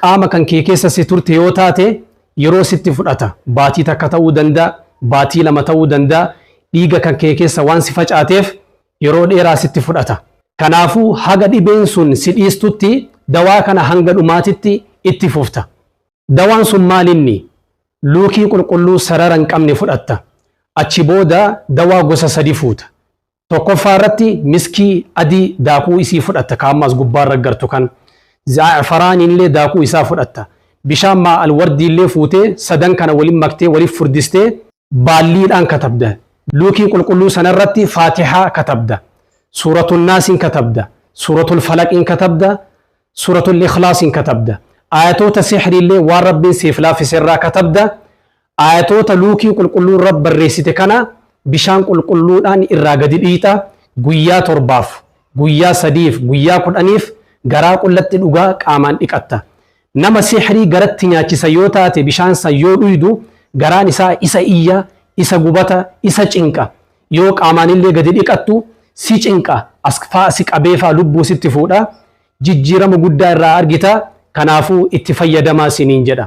Qaama kan kee keessa si turte yoo taate yeroo sitti fudhata. Baatii takka ta'uu danda'a, baatii lama ta'uu danda'a. Dhiiga kan kee keessa waan si facaateef yeroo dheeraa sitti fudhata. Kanaafuu haga dhibeen sun si dhiistutti dawaa kana hanga dhumaatitti itti fufta. Dawaan sun maalinni? Luukii qulqulluu sarara hin qabne fudhatta. Achi booda dawaa gosa sadi fuuta. Tokkoffaa irratti miskii adii daakuu isii fudhatta ka amma as gubbaa irra gartu kan. Zaa'afaraan illee daakuu isaa fudhatta. Bishaan maa alwardii illee fuutee sadan kana waliin maktee waliif furdistee baalliidhaan katabda. Luukii qulqulluu sana irratti faatihaa katabda. Suuratul naasiin katabda. Suuratul falaqiin katabda. suuratul ikhlaasiin katabda aayatoota sihriillee waan rabbiin siif laaffise irraa katabda aayatoota luukii qulqulluun rab barreessite kana bishaan qulqulluudhaan irraa gadi dhiita guyyaa torbaaf guyyaa sadiif guyyaa kudhaniif garaa qullatti dhugaa qaamaan dhiqatta nama sihrii garatti nyaachisa yoo taate bishaan san yoo dhuydu garaan isaa isa iyya isa gubata isa cinqa Yoo qaamaanillee gadi dhiqattu si cinqa, as faa si qabee faa lubbuu sitti fuudha. Jijjiirama guddaa irraa argita. Kanaafuu itti fayyadamaa siniin jedha.